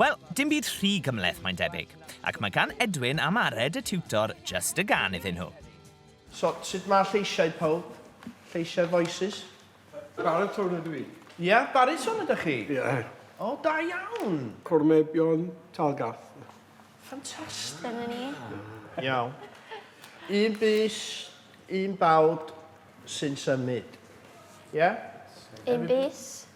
Wel, dim byd rhy gymhleth mae'n debyg, ac mae gan Edwin a Mared y tiwtor jyst y gân iddyn nhw. So, sut mae lleisiau pawb? Lleisiau voices? Baritone ydw i. Ia, baritone ydych chi? Ia. O, da iawn! Cornebyon Talgarth. Ffantastig. Dyna ni. Iawn. Un bys, un bawd sy'n symud. Ia? Un bys,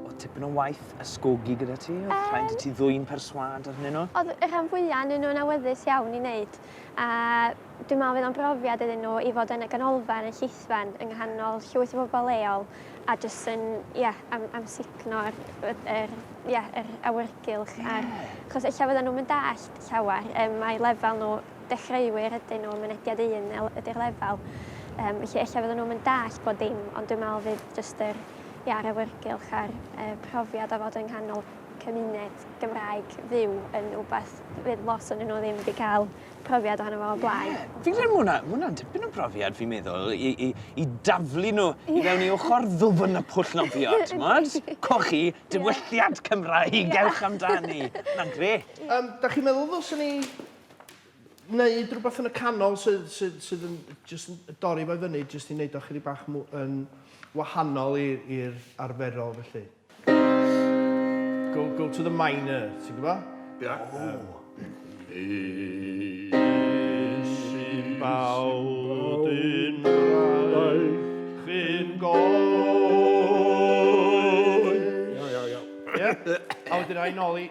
Oedd tipyn o waith ysgogi gyda ti? Oedd um, rhaid i ti ddwy'n perswad arnyn nhw? Oedd y rhan fwyaf yn nhw'n awyddus iawn i wneud. A dwi'n meddwl fydd o'n brofiad iddyn nhw i fod yn y ganolfan, y llithfan, yng nghanol llwyth o bobl leol a jyst yn, ie, yeah, am, am signo'r er, er, yeah, er awyrgylch. Yeah. Ar, chos eich fydden nhw'n mynd all llawer, um, mae lefel nhw dechreuwyr ydyn nhw, mynediad un ydy'r lefel. Um, felly efallai fydden nhw'n mynd dall bod dim, ond dwi'n meddwl fydd jyst yr, ia, yr awyrgylch a'r e, profiad o fod yng nghanol cymuned Gymraeg fyw yn rhywbeth fydd lot o'n nhw ddim wedi cael profiad ohono fo o blaen. Yeah. Fi'n credu mwna, mwna dipyn o brofiad fi'n meddwl i, i, i daflu nhw yeah. i fewn i ochr ddwfn y pwll nofio, ti'n modd? Cochi, diwylliant Cymraeg, yeah. ewch amdani. Mae'n gret. Um, da chi'n meddwl ddylsyn ni wneud rhywbeth yn y canol sydd, sydd, sydd yn just yn dorri fo fyny, just i wneud o chydig bach yn wahanol i'r arferol felly. Go, go to the minor, ti'n gwybod? Ie. Yeah. Oh. Um, Is i